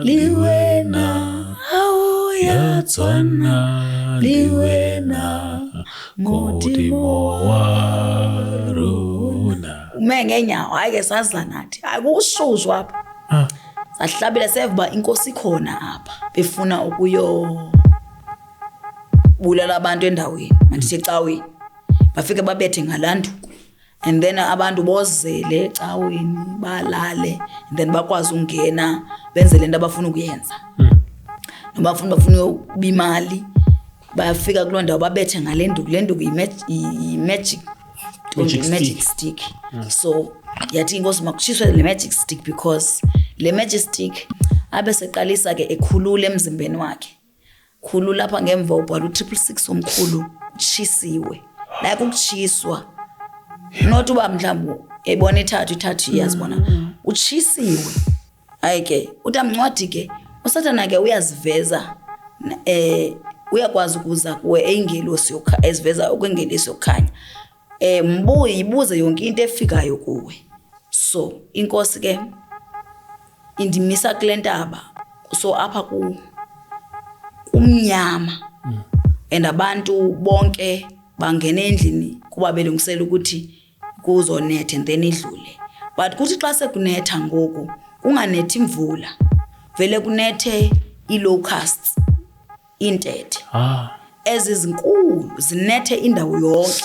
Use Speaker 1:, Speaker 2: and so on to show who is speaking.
Speaker 1: liwena awuya tswana liwena modimo warona ume ngeenyawo hayi ke sazila nathi hayi kukushuzwa apha ah. sahlabela seva uba inkosi ikhona apha befuna ukuyo ukubulala abantu endaweni mandithi ecaweni bafike babethe ngalanduku and then abantu bozele ecaweni balale and then bakwazi ukungena benze le nto abafuna ukuyenza noba funa bafuna uyokuba imali bafika kuloo ndawo babethe ngale nduku le nduku yi-magic Magic magic stick. stick yeah. so yathi inkosi makutshiswe le magic stick because le magic stick abe seqalisa ke ekhulula emzimbeni wakhe Khulu lapha ngemva ubhala u-triple six omkhulu utshisiwe like ukutshiswa not uba mhlawumbi ebona ithathu ithathu iyazibona mm-hmm. utshisiwe hayi ke utamncwadi ke usathana ke uyaziveza um uyakwazi ukuza kuwe eyingelosi eziveza okwengelisi yokukhanya Eh mbuye ibuze yonke into efikayo kuwe. So inkosi ke indimisa kule ntaba so apha ku kumnyama mm. and abantu bonke bangena endlini kuba belungisela ukuthi kuzonetha and then idlule but kuthi xa sekunetha ngoku kunganethi imvula vele kunethe ii-locusts iintethe ah. ezizinkulu zinethe indawo yonke